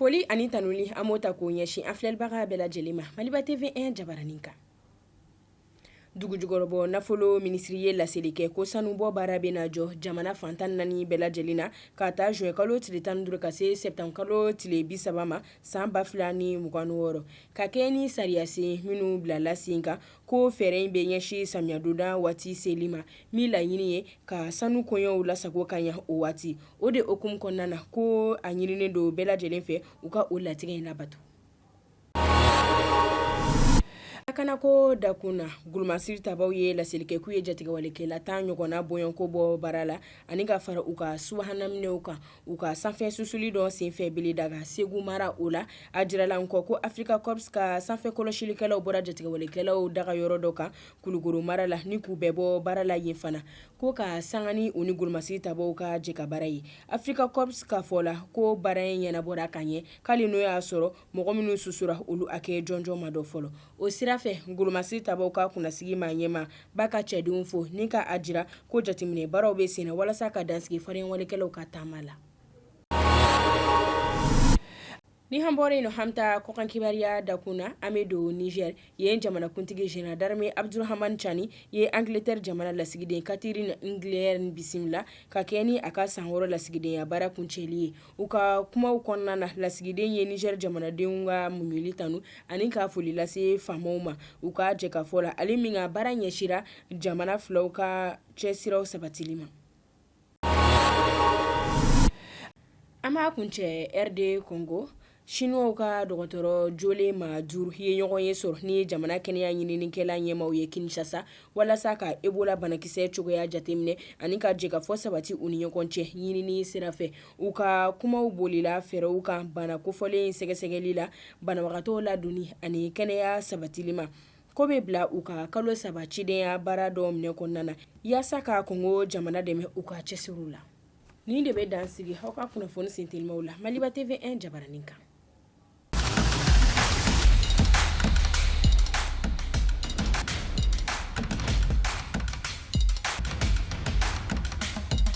Foli ani tanuli an b'o ta k'o ɲɛsin an filɛlibaga bɛɛ lajɛlen ma Maliba TV1 jabaranin kan dugu jukɔrɔbɔ nafolo minisiri ye laseli kɛ ko sanubɔ baara bɛ na jɔ jamana fan tan naani bɛɛ lajɛlen na k'a ta zuwɛnkalo tile tan ni duuru ka se sɛtanburukalo tile bi saba ma san ba fila ni mugan wɔɔrɔ ka kɛ ni sariyasen minnu bilala sen kan ko fɛɛrɛ in bɛ ɲɛsin samiyɛdonda waati seli ma min laɲini ye ka sanu koɲɛw lasago ka ɲɛ o waati o de hukumu kɔnɔna na ko a ɲininen don bɛɛ lajɛlen fɛ u ka o latigɛ in labato lakana ko dakun na golomasiri tabaw ye laseli kɛ k'u ye jatigɛwalekɛla tan ɲɔgɔnna bɔko bɔ baara la ani ka fara u ka subahana minɛnw kan u ka sanfɛ susuli dɔ senfɛ beledaga segu mara o la a jirala kɔ ko Africa Corps ka sanfɛ kɔlɔsilikɛlaw bɔra jatigɛwalekɛlaw daga yɔrɔ dɔ kan kulukoro mara la ni k'u bɛɛ bɔ baara la yen fana ko ka sanga ni u ni golomasiri tabaw ka jɛkabaara ye Africa Corps ka fɔ la ko baara in ɲɛnabɔra ka ɲɛ k'ali n'o y'a sɔrɔ mɔgɔ minnu susura olu hakɛ jɔnjɔn ma dɔn fɔlɔ o sira fɛ golomasiri tabaw ka kunnasigi maaɲɛmaa b'a ka cɛdenw fo ni ka a jira ko jateminɛ baaraw bɛ sen na walasa ka dansigi fariyawalekɛlaw ka taama la ni an bɔra yen an bɛ taa kɔkan kibaruya dakun na an bɛ don nizɛri yen jamanakuntigi général d'armée Abdurahamani Cani ye angilɛtɛri jamana lasigiden Catherine Inglehearn bisimila ka kɛ ni a ka san wɔɔrɔ lasigidenya baara kuncɛli ye u ka kumaw kɔnɔna na lasigiden ye nizɛri jamanadenw ka muɲuli tanu ani ka foli lase faamaw ma u ka jɛkafɔ la ale min ka baara ɲɛsira jamana filaw ka cɛ siraw sabatili ma An b'a kuncɛ RD Kongo sinuwaw ka dɔgɔtɔrɔ jolen maa duuru ye ɲɔgɔn ye sɔrɔ ni jamana kɛnɛya ɲininikɛla ɲɛmaaw ye kinsasa walasa ka ebola banakisɛ cogoya jateminɛ ani ka jɛkafɔ sabati u ni ɲɔgɔn cɛ ɲinini sira fɛ u ka kumaw bolila fɛɛrɛw kan bana kofɔlen sɛgɛsɛgɛli la banabagatɔw ladonni ani kɛnɛya sabatili ma k'o bɛ bila u ka kalo saba cidenya baara dɔ minɛ kɔnɔna na yaasa ka Kongo jamana dɛmɛ u ka cɛsiri la nin de bɛ dan sigi aw ka kunnafoni sen telimaw la Maliba TV1 jabaranin kan